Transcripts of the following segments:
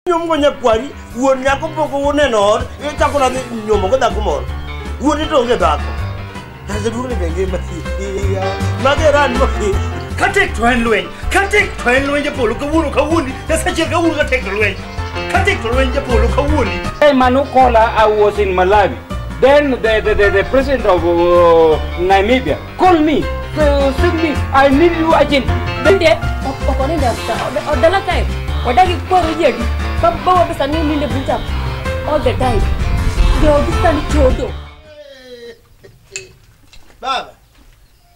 nyomgo nyakwari wuon nyako pok uneno ot ichako nadhi nyomogo dhako moro wuon ni to onge dhako taseduogni be ngima magerani katek to en lweny katek to en lweny japolo kawuono kawuoni nasachiel kawuono katek to lweny katek to lweny japolo kawuoni Hey, Manu Kola, I was in Malawi. Then the, the, the, the president of uh, Namibia, Call me. So, send me. I need you again. Bende, oko ni dafta. Odala time. Odagi kwa rujedi. Baba wa pesa nini nile buta. All the time. Ndio bisa ni chodo. Baba,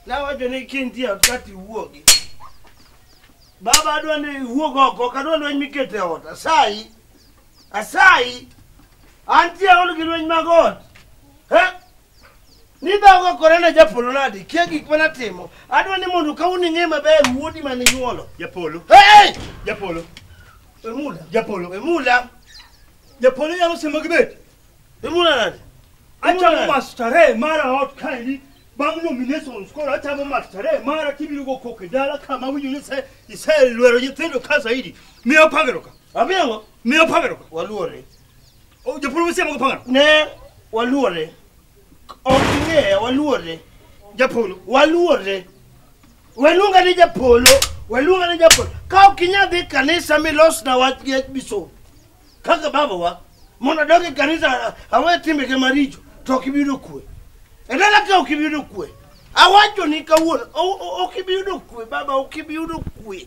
nawacho ni kintie ot kati wuogi. Baba adwa ni wuog oko, ok adwa lweny mikete ot. Asayi, asayi, antie aol gi lweny mag ot. Eh? Nidhago kore na japolo nadi kia gik mana timo. Adwa ni mondo ka un ing'e maber wuodi mane nyuolo. Japolo. Hey! Japolo. Emula. Japolo. Emula. Japolo nyalo simo gi bet. Emula nadi. Achamo mastare mara ot kaini. Bang' nominations koro achamo mastare mara kibiro go koko e dala ka ma winjo ni se iselwero nyithindo ka zaidi. Miyo pageroka. Abiyango. Miyo pageroka. Waluore. O, Japolo mose mogo pangano. Ne waluore. Ok ing'eye, waluore. Japolo. Waluore. Waluonga ni Japolo, waluonga ni Japolo. Ka ok inyal dhi kanisa milosna wach gi biso. Kaka babawa, mondo adog e kanisa awe timbege maricho, to ok ibi yudo kwe. E dala ka ok ibi yudo kwe. Awachoni kawuono, o- o- ok ibi yudo kwe, baba, ok ibi yudo kwe.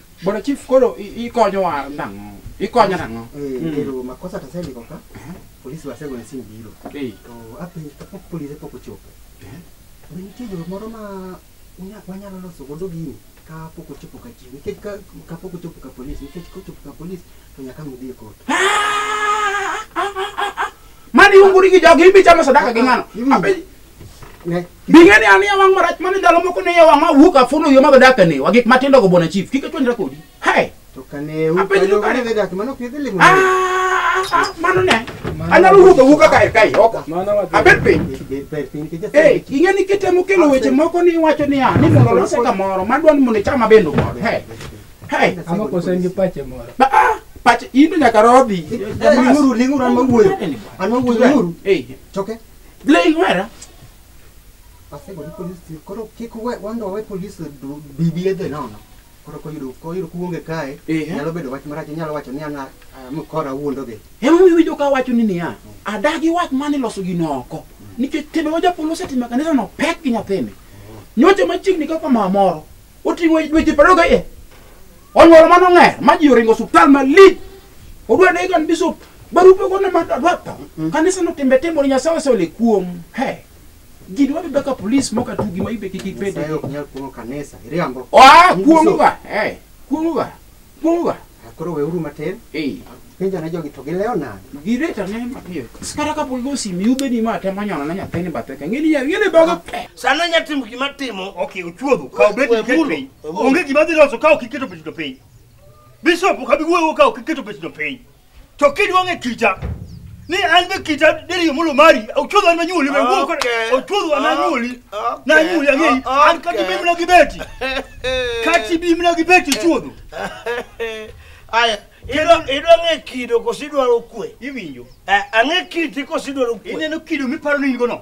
Bwana Chief koro i- ikonyo wa nang'o? Ikonyo nang'o? Eh, Mm. pero makosa tasendiko ka polisi wasego ni sim biro Eh, to apenjo kapok polise pok ochopo be nitie yo moro ma unya- wanyalo loso godo gini ka pok ochopo ka chief nikech ka ka pok ochopo ka polisi nikech kochopo ka polisi to nyaka nudhi e kot Mani unguri gi jogi ibi chamo sadaka gi ng'ano. Iwinjo? Abe- Ne. Bing'eni an iya wang' marach mane ndalo moko ne iya wang' ma wuok afulo yo madho dak ane wa gik matindo go bona chief kik achwanyra kodi. Hey. To kane u Apenjo kane kane. kane dak mano ok idhi limo. Ah, ah, mano ne. Anyalo wuotho wuoka kae kae oko. Mano wadhi. Abed piny. Bed bed piny kija. Hey, ing'e ni kitemo kelo weche moko ni iwacho niya ni mondo olose kamoro madwa ni mondo ichama bendo godo. Hey. Hey. Ama koso en gi pache moro. Ba, ah, pach in to nyaka rodhi. Linguru linguru an mawuoyo. An mawuoyo linguru. Hey. Choke. Blei wera. Asego ni polis ti- koro kik we- wando wawe polis du- bibi edhe nono. Koro koyudo koyudo kuonge kae Ehe. nyalo bedo wach marach inyalo wacho ni ana mkora wuondo gi. Ema iwinjo ka wacho ni niya, adagi wach mane loso gino oko. Nikech timbe ma japolo osetimo e kanisano pek gi nyathini. Nyocha machiegni kaka mama moro, Oting'o dweche piero ariyo gaiye. Onyuolo mano ng'er ma ji oringo osuptal malich. Odwa dai kan bishop. Barupe gone ma dwa tho. Kanisa no timbe timore Nyasaye osole kuom. He. Ji dwa bebe ka polis moko atugi ma ibe kik ibede. Nyasaye ok nyal kuong'o kanisa. Iriambo. Oa kuong'oga. He. Kuong'oga. Munga. Koro weuru matin. Eh. Penjo na jogi to gilewo nade? Gireta ne mapiyo. Kata ka pol gosi mi ubedi ma temo nyono na nyathini bathe ka ngeni ya ngeni bago pe. Sana nya timo gima timo. Okay, uchuodho. Ka ubedi keto piny. Onge gima dhi loso ka ok iketo piny to piny. Bishop ka bi wuoyo ka ok iketo piny to piny. To kiduong' e kita ni an be kita deri mulo mari ochudho an manyuoli be wuok Okay. ochudho an anyuoli Okay. na anyuoli ang'eyi Okay. an kati bimna gi beti kati bimna gi beti chudho Aya, idwa- idwa ng'e kido koso idwaro kwe? iwinjo Eh, ang'e kiti koso idwaro kwe? ineno kido miparo ni in go no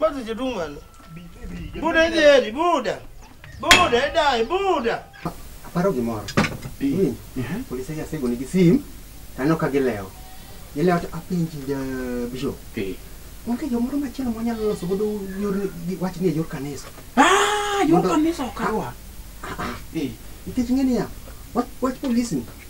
Mati chedumwana. Buda idheri, buda. Buda idai, buda. Aparo gimoro. Ni, Polise gi asego nigi sim, taneno ka gilewo. Gilewo to apenji ja bishop. Onge jomoro machielo mwanyalo loso godo yor gi- wachni e yor kanisa. Ah, yor Mondo- kanisa okawa. Nikech ing'e niya, wach wach polisni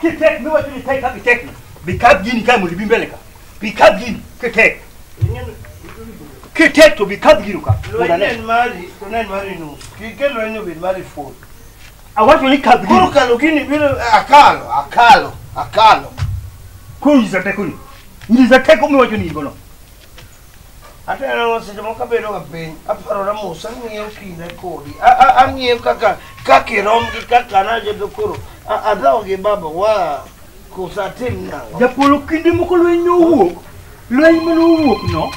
Kitek mi wacho ni tek kaka tek. Bikab gini kae mondo ibi mbele ka. Bikab gini kitek. Kitek to bikab gino ka. Mondo Lweny ane. en mari, to ne en mari nus. Kik kel lweny obed mari full. Awacho ni kab Koro gini. kalo gini biro akalo, akalo, akalo. Koro nyisa tekoni. Nyisa teko mi wacho ni in gono. Atero seche moko abedo ga piny, aparora mos, ang'iyo kinde kodi. A- a- Ang'iyo kaka kaka irom gi kaka najedo koro. A- Adhawo gi baba wa koso atim nang'o? Japolo kinde moko lweny ne owuok. Lweny mane owuok no.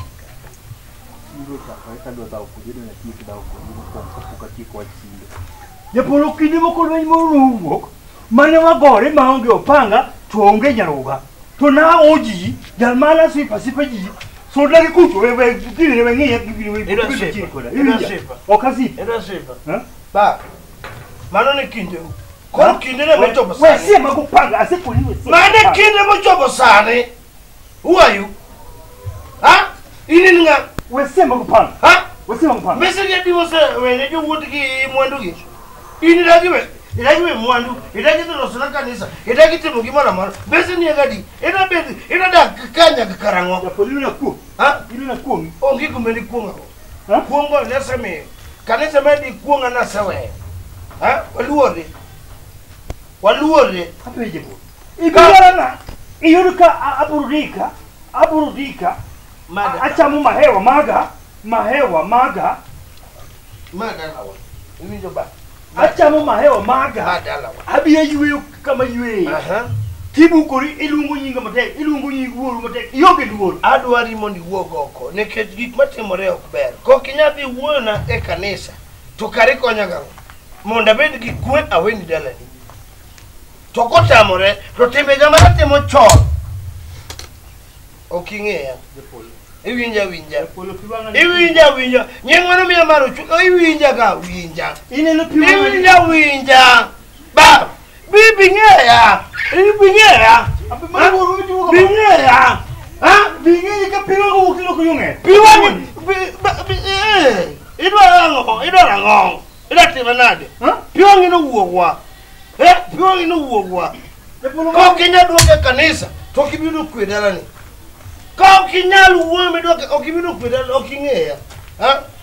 Japolo kinde moko lweny moro ne owuok. mane wagore maonge opanga to onge nyaroga to na oji jal mana sipa sipa ji so dagi kucho we we gini we ngiye gini we Ira gini sipa, chini koda ira Iwinja? sipa. ok asipa Era sifa. Ha? Ba. Mano ni kinde. Koro kinde ne mochopo we sani. sie mago panga asekoni we sie Mane kinde mochopo sani. Who are you? Ha? Inin nga? Wesema kupanda. Ha? Wesema kupanda. Message ya divorce wene jo wuot gi mwandu gi. In idagi we idagi we mwandu, idagi to loso na kanisa, idagi timo gimoro amora. Bese ni gadi, ina bed ina da kanya gi karango. Ya poli na ku. Ha? Ili na ku. Ongi kumbe ni kuonga. Ha? Kuongo ne sami. Kanisa medi kuonga na sewe. Ha? Waluori. waluorre apenje bo ibiyorana iyud ka a- aburudika aburudika Mada. a- achamo mahewa maga mahewa maga madalawa iwinjo ba achamo mahewa maga madalawa abiya yweyo kama yweyo aha kibukori iluongo nyinga matek iluongo nying wuoru matek ionge luor adwari mondo iwuog oko nikech gik matimore ok ber kok inyal dhi wuoyona e kanisa to kare ikonya gang'o mondo abed gi kwe aweni dalani to kotamore to timbega mana timo chon ok ing'eya iwinja winja iwinja winja nying mano miya mar ochung iwinja ga winja iwinja winja ba Bi bing'e ya. Bi bing'e ya. Bing'e ya. Ha? Bing'e ka piwa ko wukilo ko yung'e. Piwa ni. Idwa rango, idwa rango. Idwa timo nade? Piwa ngino wuogwa. Eh, piwa ngino wuogwa. Ok inyal duogo e kanisa to ok ibiro kwe dalani. Ka ok inyal wuoyo midwoke ok ibiro kwe dalani ok ing'eya. Ha?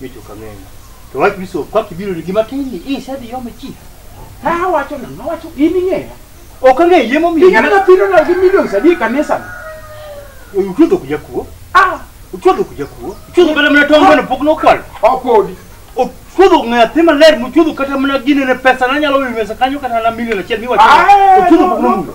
Micho kang'eyo. To wach biso kwa kibiro ni gima tin ni isa di yome chi. Ha wacho na wacho in ing'eya. Ok ang'eyo yie momiyo. Ing'eyo na piro na gi millions adi e kanisa. Uchudo kuja kuo. Ah, uchudo kuja kuo. Uchudo kata mna tongo na pok nokwal. Opodi. Uchudo ng'athi maler muchudo kata mna gine ne pesa na nyalo wi mesa kanyo kata na milion achiel miwacho. Uchudo pok nomulo.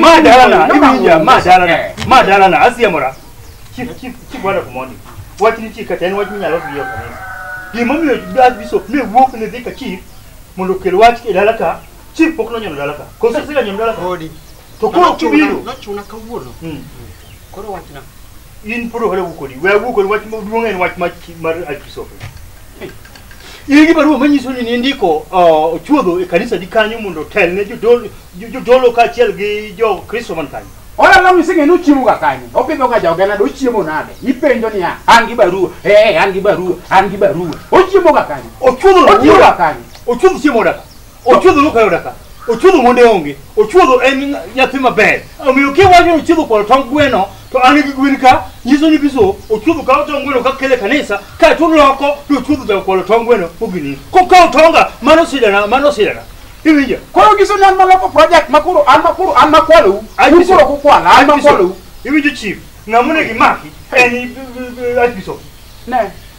Ma dalana, ibi ya ma dalana, ma dalana, asiya mora. Chief, chief, chief wada kumoni. Wachni chief kata en wachni nyalo biyo kanisa. Gima miyo dad bishop mi wuok ne dhi ka chief mondo okel wach e dala ka chief pok nonyono dala ka. Koso sila nyono dala ka. Podi. To koro kibiro. Nochuna kawuono. Mm. Koro wachna. in pod ohole wuo kodi we awuo kodi wach maduong' en wach mach- mar arkisope in gi barua manyiso ni nindiko uh, ochuodho e kanisa di kanyo mondo otel ne jodolo jo- jodolo kaachiel gi jokristo man kanyo Ora la misinge no chiemo ga kanyo. Opidho ga joga na do chiemo nade? Ipenjo niya, an gi barua. Eh, an gi barua, an gi barua. Ochiemo ga kanyo. ochuodho Ochiemo ga wuoda kanyo. ochuodho chiemo daka Ochuodho no kayo daka. Ochuodho monde onge. Ochuodho en nyathi maber. Omiyo ke wacho ochuodho kwa tong gweno to an gi gwen ka nyiso ni biso ochuodho ka tong gweno ka kele kanisa ka to loko to ochuodho da kwa tong gweno ogini. Ko ka tonga mano sidana mano sidana. Iwinja. Koro nyiso ni an maloko project ma koro an ma koro an ma kwalou. An koro ko kwala an ma kwalou. Iwinjo chief. Ngamune gi maki en archbishop. Ne.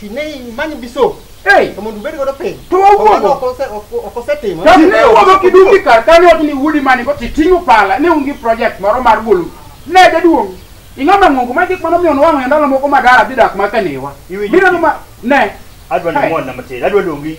Ki ne imanyo biso. Hey. To mondo ubed godo piny. To wawuogo. Ok ose ok osetimo. To ne wuogo kiduki kar kane ot ni wudi mani ko titingo pala ne ungi project moro mar golo. Ne jaduong. Ing'o ma ng'ongo ma gik mano miyo nwang'o ndalo moko madara dhi dak ma kaniwa. Biro ma ne. Adwa ni mwana matin. Adwa dongi.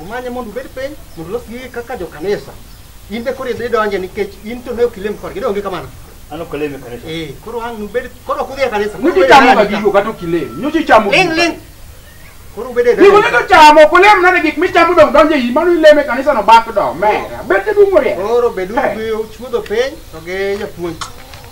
Umanye mondo ubed piny mondo ulos gigi kaka jokanisa. In be koro idhi donje nikech in to ne ok ilem kodgi, donge kamano? An ok alem e kanisa. Eh, koro ang' nubed koro ok udhi e kanisa. Nyuchi chamo ga gigo kata ok ilem. Nyuchi chamo Ling' ling'. Koro ubed e Gigo ne to chamo, ok ulem nade gik michamo dong donjo e iyi, mano ilem e kanisa no bak do, mera. Bete dum oriek. Koro beduru Eh. gi chuodho piny to gi japuonj.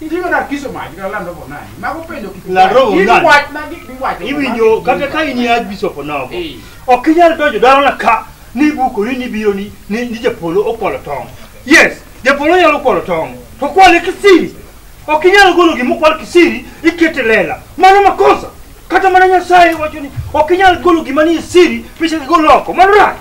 Itiyo na kiso mach kata lando po nani. Mago penjo kik. Lando po nani. Gin wach na gik miwacho. Iwinjo kata ka in ya bishop nogo. Ok inyal donjo daro na ka ni buko ni biro ni ni japolo okwalo tong. Yes, japolo nyalo kwalo tong. To kwale kisiri. Ok inyal golo gima okwal kisiri ikete lela. Mano makosa. Kata mana Nyasaye wacho ni ok inyal golo gima ni siri picha gigolo oko. Mano rach.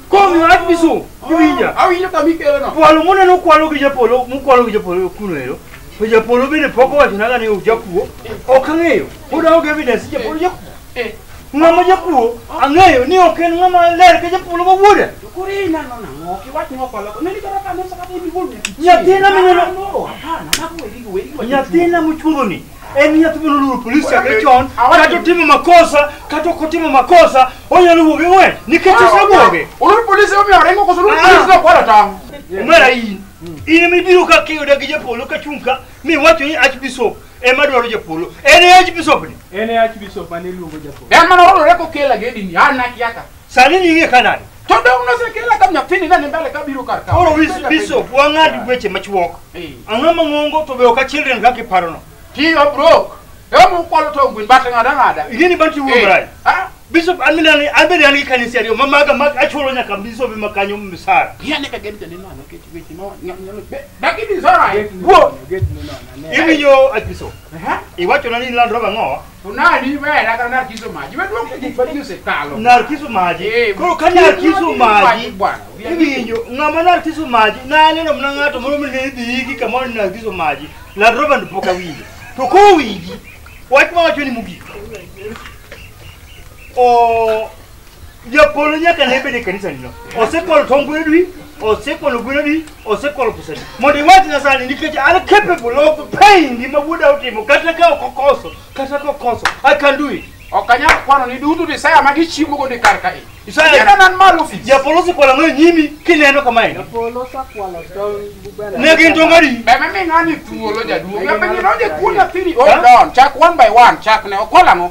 Komiyo wach misungu iwinja. Awinjo kama ikelo no. Kwalo muneno kwalo gi japolo, mukwalo gi japolo kuno ero. To japolo bende pok owachonaga ni ojakuo. Ok ang'eyo. Pod aonge evidence japolo jakuo. Eh. Ng'ama jakuo ang'eyo ni ok en ng'ama ler ka japolo ma wuoda. To koro inano nang'o? Ok iwach ni okwalo. Nani kata kane sakata ibi gol nyathi. Nyathina mineno- Hapana, mago weri go, weri go. Nyathina muchuodho ni en nyathi mono luwo polis chakre chon kata otimo makosa kata ok otimo makosa onyalo wuoge we nikech osewuoge Ulu polisi omi orengo koso ulu Ah. polisi na kwara tango. omera in in ema ibiro ka kiyuda gi japolo ka chung' ka miwacho ni archbishop ema dwaro japolo en e archbishop ni En e Archbishop mane iluongo Japolo. En mana wadore kokela gedini, an nakiaka. Sani ni ing'e ka nade? To dong nosekela ka nyathini nane mbele ka biro kar ka. Koro wis biso wang'ad weche machuok. Eh. Ang'o mang'ongo to be ok achildren kaka iparono. Tiyo brok. Yomu kwalo to gwin bata ng'ada ng'ada. Ing'e ni banti wuo mrai. Ah, Bishop amina ni abedi an gi kanisa ariyo ma maga mag achulo nyaka bishop ma kanyo misara. yane ka gen janeno ano kech weche ma nyalo be. Dagi ni zora. Wuo. Iwinjo apiso. Aha. Iwachona ni ilandroga ng'owa. Unani wewe nataka narkizo maji. Wewe ndio kujifanyia sekalo. narkiso maji Eh, koro ka kilo narkiso maji maji bwana. iwinjo ng'ama narkiso maji naneno mna ng'ato moro mine idhiyiki kamoro ni narkiso maji ladroba ni pok awinjo to kowinji wach mawacho ni mogik o Japolo nyaka ne bed e kanisanino. Osekwalo tong' gwedwi, osekwalo gwedwi, osekwalo pusadi. Mondo iwach Nyasaye nikech an capable of paying gima wuoda otimo kata ka ok okoso, kata ka okoso, I can do it. Ok anyal kwano ni duto desire ma gichiemo go ni kar ka i. Isaya- Yena nan malo ofis. Japolo osekwalo ang'o e nyimi kineno kamae? Polo sakwalo tong' bubera. Ne gin tong' adi? Be me ming'ani thuolo jaduong'. Be ng'ino je kuona thiri. Hold on. Chak one by one. Chak ne okwalang'o.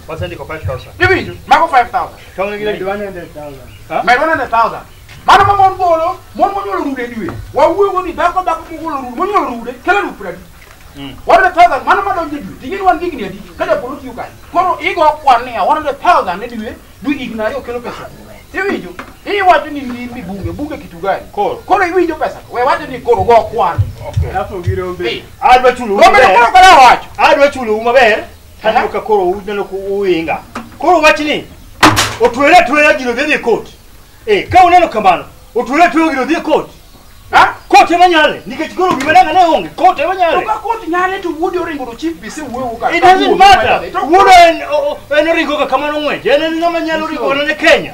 Wasendiko 5000. Iwinjo? Mago 5000. Tong' gi Med 100,000. Ha? Med 100,000. Mano ma mon golo, mon monyuolo rude diwe. Wawuoyo ni dhako dhako mogolo rude, monyuolo rude, kelo rude pradi. Mm. 100,000 mano ma donjo diwe. Ting'eni wan gigni adi? Ka japolo tiyo kanye. Koro igo kwan niya 100,000 ne diwe, dwe higni ariyo kelo pesa. Iwinjo? Iwacho ni ndimi bunge, bunge kitu gani? Koro. Koro iwinjo pesa. We wacho ni koro go kwan. Okay. Alafu gi rombe. Adwa chulo Rombe koro koro wacho. Adwa chulo maber. Taneno ka koro uneno ku uinga. Koro wach ni otwere atwera gino dhi e kot. Eh, ka uneno kamano, otwere atwera gino dhi e kot. Ha? Kot ema nyale, nikech koro gima nanga ne onge, kot ema nyale. Ka kot nyale to wuodi oringo to chief bise wuoyo ka. It doesn't matter. Wuodo en o- o- en oringo ka kamano ng'weje, en en ng'ama nyalo ringo ne Kenya.